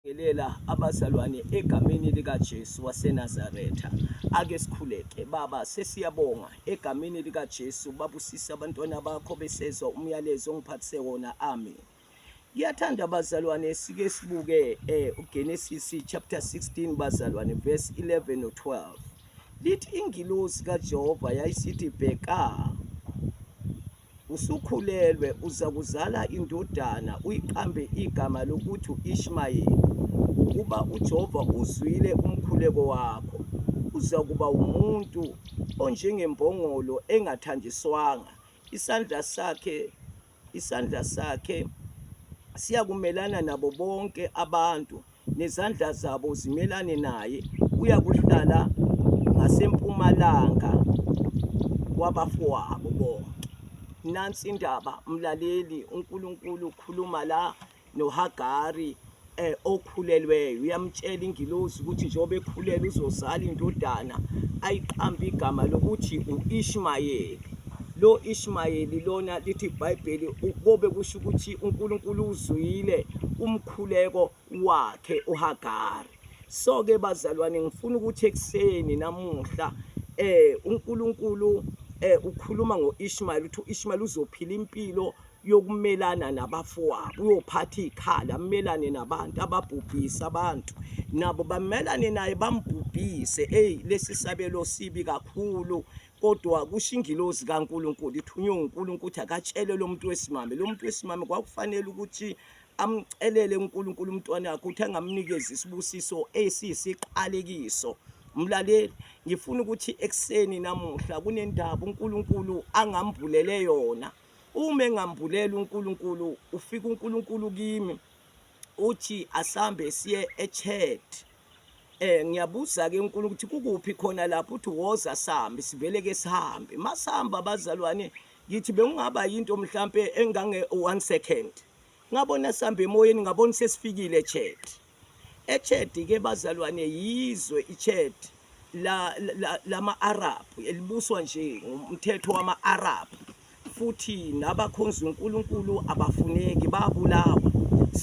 Ngelela abazalwane egameni likaJesu waseNazaretha. Ake sikhuleke. Baba, sesiyabonga egameni likaJesu babusisa abantwana bakho besezwa umyalezo ongiphathise wona. Amen. Ngiyathanda abazalwane sike sibuke eh uGenesis chapter 16 bazalwane verse 11 no 12. Lithi ingilosi kaJehova yayisithi bheka Usukhulelwe uza kuzala indodana uyiqambe igama lokuthi u-Ishmayeli, ngokuba uJehova uzwile umkhuleko wakho. Uza kuba umuntu onjengembongolo engathanjiswanga, isandla sakhe isandla sakhe siyakumelana nabo bonke abantu nezandla zabo zimelane naye uyakuhlala ngasempumalanga kwabafowabo bonke nansi indaba mlaleli uNkulunkulu ukhuluma la noHagari eh okhulelweyo uyamtshela ingilosi ukuthi njengoba ekhulele uzozala indodana ayiqambe igama lokuthi uIshmayeli lo Ishmayeli lona lithi iBhayibheli kobe kusho ukuthi uNkulunkulu uzwile umkhuleko wakhe uHagari so ke bazalwane ngifuna ukuthi ekuseni namuhla eh uNkulunkulu eh ukhuluma ngoIshmael uthi uIshmael uzophila impilo yokumelana nabafowabo uyophatha ikhala amelane nabantu ababhubhisa abantu nabo bamelane naye bambhubhise hey lesi sabelo sibi kakhulu kodwa kusho ingilozi kaNkuluNkulu ithunywe uNkuluNkulu ukuthi akatshele lomuntu wesimame lomuntu wesimame kwakufanele ukuthi amcelele uNkulunkulu umntwana wakhe ukuthi angamnikeza isibusiso esiyisiqalekiso mlaleli ngifuna ukuthi ekuseni namuhla kunendaba uNkulunkulu angambulele yona uma engambulela uNkulunkulu ufika uNkulunkulu kimi uthi asambe siye echat eh ngiyabuza ke uNkulunkulu ukuthi kukuphi khona lapho uthi woza sambe sivele ke sihambe masihamba bazalwane ngithi bengingaba yinto mhlampe engange 1 second ngabona sihamba emoyeni ngabona sesifikile eChad eChad ke bazalwane yizwe iChad la lama-Arab elibuswa nje ngumthetho wama-Arab futhi nabakhonza uNkulunkulu abafuneki babulawa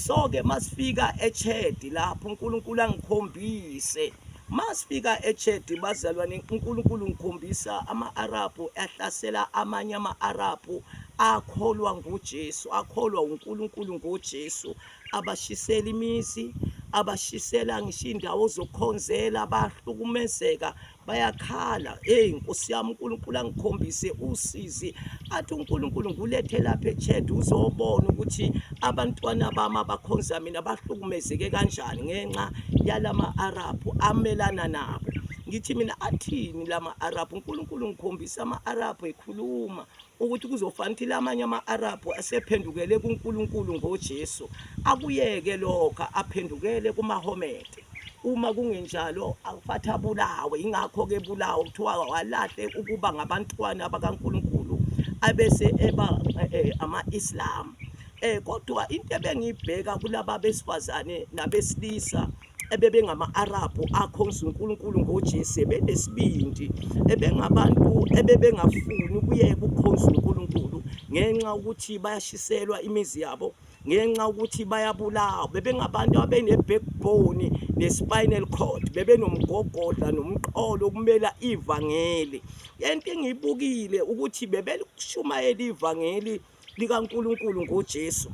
so ke masifika eChad lapho uNkulunkulu angikhombise Masifika eChedi bazalwane uNkulunkulu ngikhombisa ama-Arabhu ahlasela amanye ama-Arabhu akholwa nguJesu akholwa uNkulunkulu ngoJesu abashisela imizi abashisela ngisho indawo zokukhonzela bahlukumezeka bayakhala hey Nkosi yami uNkulunkulu angikhombise usizi athi uNkulunkulu ngulethe lapha eChad uzobona ukuthi abantwana bami abakhonza mina bahlukumezeke kanjani ngenxa yalama Arab amelana nabo ngithi mina athini lama Arab uNkulunkulu ngikhombisa ama Arab ekhuluma ukuthi kuzofana ukuthi lamanye ama Arab asephendukele kuNkulunkulu ngoJesu akuyeke lokho aphendukele kumaHomede uma kungenjalo awufathi abulawe yingakho-ke bulawa kuthiwa walahle ukuba ngabantwana bakankulunkulu abese eba eh, eh, ama-islam eh kodwa into ebengiyibheka kulaba besifazane nabesilisa ebebengama-arabhu akhonza unkulunkulu ngojesu ebenesibindi ebengabantu ebebengafuni ukuyeka ukukhonza unkulunkulu ngenxa ukuthi bayashiselwa imizi yabo ngenxa ukuthi bayabulawa bebengabantu abene-backbone ne-spinal cord bebenomgogodla nomqolo okumela ivangeli lento engiyibukile ukuthi bebelishumayela ivangeli likaNkuluNkulu ngoJesu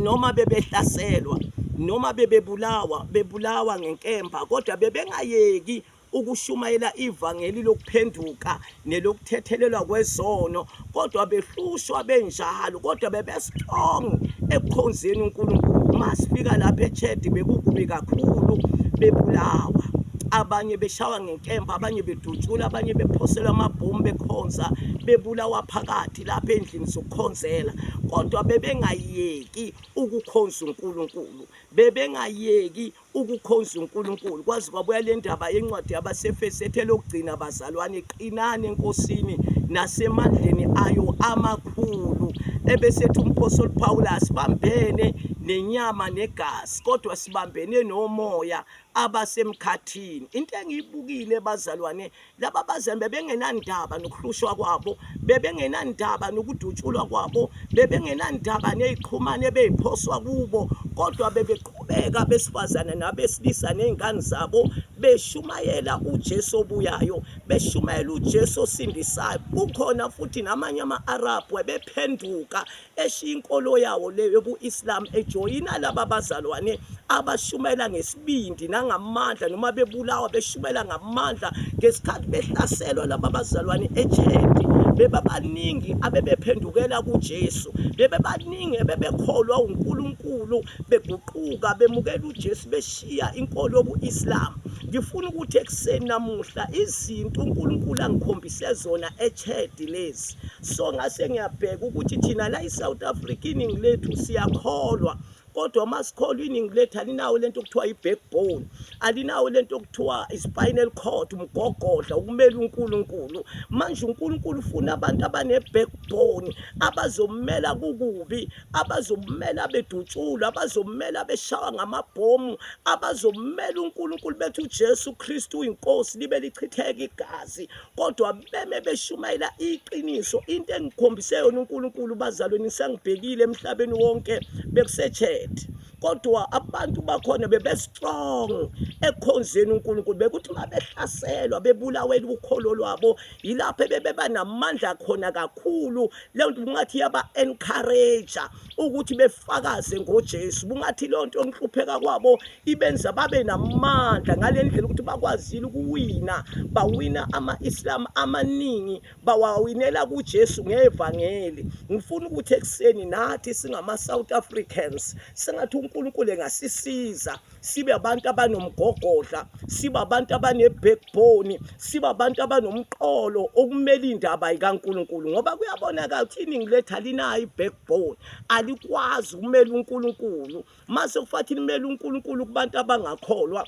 noma bebehlaselwa noma bebebulawa bebulawa ngenkemba kodwa bebengayeki ukushumayela ivangeli lokuphenduka nelokuthethelelwa kwezono kodwa behlushwa benjalo kodwa bebestrong ekukhonzeni uNkulunkulu masifika lapha echedi bekukubi kakhulu bebulawa abanye beshawa ngenkemba abanye bedutshula abanye bephoselwa amabhomu bekhonza bebulawa phakathi lapha endlini zokukhonzela kodwa bebengayeki ukukhonza uNkulunkulu bebengayeki ukukhonza uNkulunkulu kwaze kwabuya le ndaba yencwadi yabaseFesi ethe lokugcina bazalwane qinani enkosini nasemandleni ayo amakhulu ebesethi umphostoli Pawulu asibambene nenyama negazi kodwa sibambene nomoya abasemkhathini into engiyibukile bazalwane laba bazembe bengenandaba nokuhlushwa kwabo bebengenandaba nokudutshulwa kwabo bebengenandaba neziqhumane ebeziphoswa kubo kodwa bebeqhubeka besifazane nabesilisa nezingane zabo beshumayela uJesu obuyayo beshumayela uJesu osindisayo kukhona futhi namanye ama-Arabhu ebephenduka eshiya inkolo yawo le yobu-Islam ejoyina laba bazalwane abashumayela ngesibindi nangamandla noma bebulawa beshumayela ngamandla ngesikhathi behlaselwa laba bazalwane echedi bebabaningi abebephendukela kuJesu bebebaningi ebebekholwa uNkulunkulu beguquka bemukela uJesu beshiya inkolo yobu-Islam ngifuna ukuthi ekuseni namuhla izinto uNkulunkulu angikhombise zona echedi lezi so ngase ngiyabheka ukuthi thina la i-south africa iningi lethu siyakholwa kodwa uma sikholwa iningi lethu alinawo lento okuthiwa i-backbone alinawo lento okuthiwa i-spinal cord umgogodla ukumela unkulunkulu manje unkulunkulu ufuna abantu abane-backbone abazomela kukubi abazomela bedutshulwa abazomela beshawa ngamabhomu abazomela unkulunkulu bethi ujesu kristu uyinkosi libe lichitheka igazi kodwa beme beshumayela iqiniso into engikhombise yona uNkulunkulu bazalweni sengibhekile emhlabeni wonke bekuseChat kodwa abantu bakhona bebe strong ekhonzeni uNkulunkulu bekuthi mabehlaselwa bebulawela ukholo lwabo yilapho bebeba namandla khona kakhulu lento kungathi yaba encourage ukuthi befakaze ngoJesu bungathi leyo nto yokuhlupheka kwabo ibenza babe namandla ngale ndlela ukuthi bakwazile ukuwina bawina ama-islam amaningi bawawinela kuJesu ngevangeli ngifuna ukuthi ekuseni nathi singama-south africans sengathi unkulunkulu engasisiza sibe abantu abanomgogodla sibe abantu abanebhekbhoni sibe abantu abanomqolo okumele indaba ikaNkuluNkulu ngoba kuyabonakala ukuthi iningi lethu alinayo ibhekbhoni alikwazi ukumela uNkuluNkulu mase kufathi limele uNkuluNkulu kubantu abangakholwa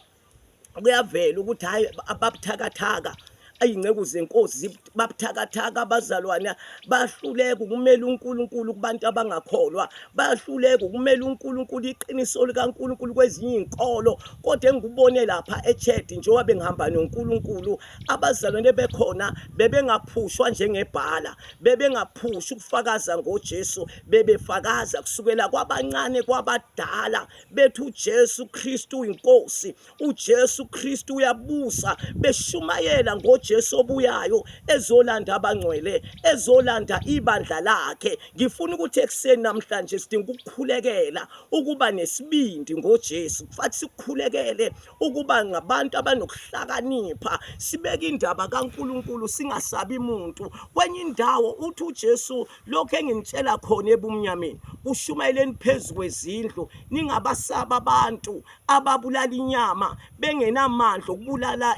kuyavela ukuthi hayi ababuthakathaka ayinceku zenkosi babuthakathaka abazalwana bahluleka ukumela uNkulunkulu kubantu abangakholwa bahluleka ukumela uNkulunkulu iqiniso likaNkulunkulu kwezinye izinkolo kodwa engikubone lapha echurch njengoba bengihamba noNkulunkulu abazalwane bekhona bebengaphushwa njengebhala bebengaphushi ukufakaza ngoJesu bebefakaza kusukela kwabancane kwabadala bethi uJesu Kristu inkosi uJesu Kristu uyabusa beshumayela ngoJesu obuyayo ezolanda abangcwele ezolanda ibandla lakhe ngifuna ukuthi ekuseni namhlanje sidinga ukukhulekela ukuba nesibindi ngoJesu kufanele sikukhulekele ukuba ngabantu abanokuhlakanipha sibeke indaba kaNkuluNkulu singasabi muntu kwenye indawo uthi uJesu lokho enginitshela khona ebumnyameni kushumayeleni phezulu kwezindlu ningabasaba abantu ababulala inyama bengenamandla okubulala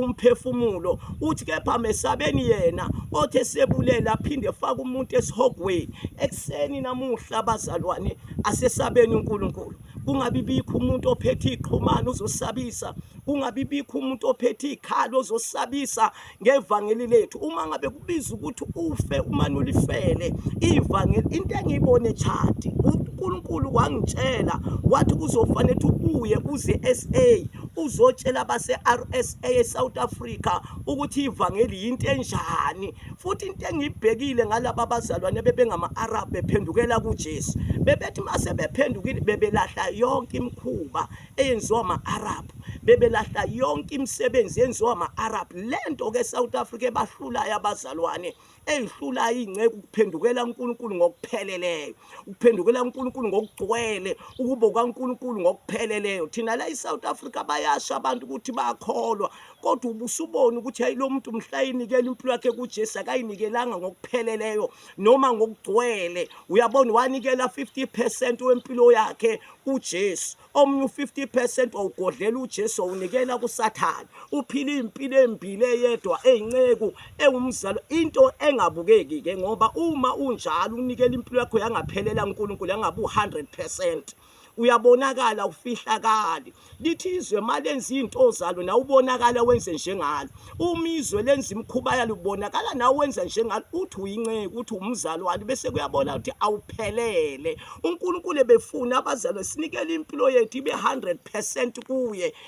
umphefumulo uthi kepha mesabeni yena othe sebulela aphinde faka umuntu esihogweni ekuseni namuhla abazalwane asesabeni uNkulunkulu kungabi bikho umuntu ophethe iqhumana uzosabisa kungabi bikho umuntu ophethe ikhalo uzosabisa ngevangeli lethu uma ngabe kubiza ukuthi ufe umane ulifele ivangeli into engiyibone echadi uNkulunkulu wangitshela wathi kuzofanele ukuthi ubuye uze SA uzotshela abase-RSA eSouth Africa ukuthi ivangeli yinto enjani futhi into engiyibhekile ngalaba bazalwane bebengama-Arab bephendukela kuJesu bebethi mase bephendukile bebelahla yonke imikhuba eyenziwa ama-arab bebelahla yonke imisebenzi yenziwa ama-arab le nto ke south africa ebahlulayo abazalwane eyihlulayo iy'nceku ukuphendukela unkulunkulu ngokupheleleyo ukuphendukela unkulunkulu ngokugcwele ukubo kwankulunkulu ngokupheleleyo thina la i-south africa bayasho abantu ukuthi bakholwa kodwa ubusubona ukuthi hayi lo muntu mhla yinikela impilo yakhe kujesu akayinikelanga ngokupheleleyo noma ngokugcwele uyabona wanikela 50% wempilo yakhe uJesu omunye u50% wawugodlela uJesu unikela kusathana uphila impilo embili eyedwa ezinceku engumzalo into engabukeki ke ngoba uma unjalo unikela impilo yakho yangaphelela uNkulunkulu yangabu 100% uyabonakala ufihlakali lithi izwe malenza izinto zalo na ubonakala wenze njengalo uma izwe lenza imikhuba yalo ubonakala na wenza njengalo uthi uyinceku uthi umzalwane bese kuyabona ukuthi awuphelele uNkulunkulu ebefuna abazalwane sinikele impilo yethu ibe 100% kuye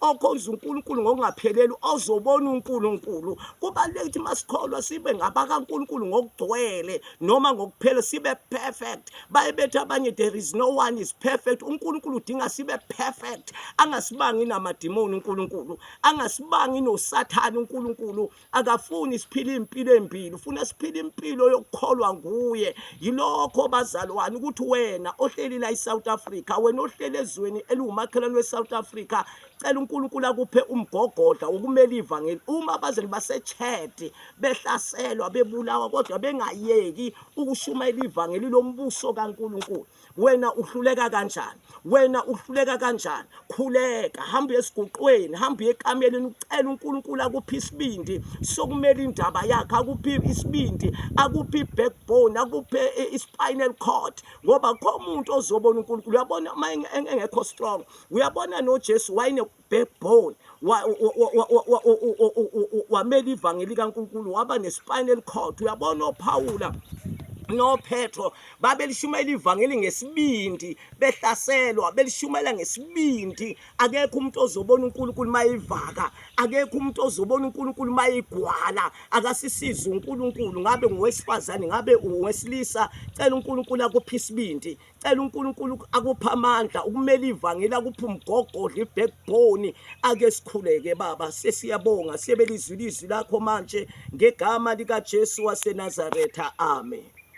okhonza uNkulunkulu ngokungapheleli ozobona uNkulunkulu kubaluleke ukuthi masikholwa sibe ngabakaNkulunkulu ngokugcwele noma ngokuphela sibe perfect bayebethu abanye there is no one is perfect uNkulunkulu udinga sibe perfect angasibangi namadimoni uNkulunkulu angasibangi nosathane uNkulunkulu akafuni siphila impilo embili ufuna siphila impilo yokukholwa nguye yilokho bazalwane ukuthi wena ohleli la eSouth Africa wena ohleli ezweni eliwumakhelwane weSouth Africa cela uNkulunkulu akuphe umgogodla wokumela ivangeli uma bazali basechedi behlaselwa bebulawa kodwa bengayeki ukushumayela ivangeli lombuso kaNkulunkulu wena uhluleka kanjani wena uhluleka kanjani khuleka hamba esiguqweni hamba ekameleni ucela uNkulunkulu akuphi isibindi sokumela indaba yakhe akuphi isibindi akuphi backbone akuphi ispinal cord ngoba khomuntu ozobona uNkulunkulu uyabona uma engekho strong uyabona noJesu wayine backbone wamela ivangeli likaNkulunkulu waba nespinal cord uyabona oPhawula noPetro babelishumayela ivangeli ngesibindi behlaselwa belishumayela ngesibindi akekho umuntu ozobona uNkulunkulu mayivaka akekho umuntu ozobona uNkulunkulu mayigwala akasisiza uNkulunkulu ngabe ngowesifazane ngabe uwesilisa cela uNkulunkulu akuphe isibindi cela uNkulunkulu akuphe amandla ukumela ivangeli akuphe umgogodla ibackbone ake sikhuleke baba sesiyabonga siyebelizwi lizwi lakho manje ngegama likaJesu waseNazaretha amen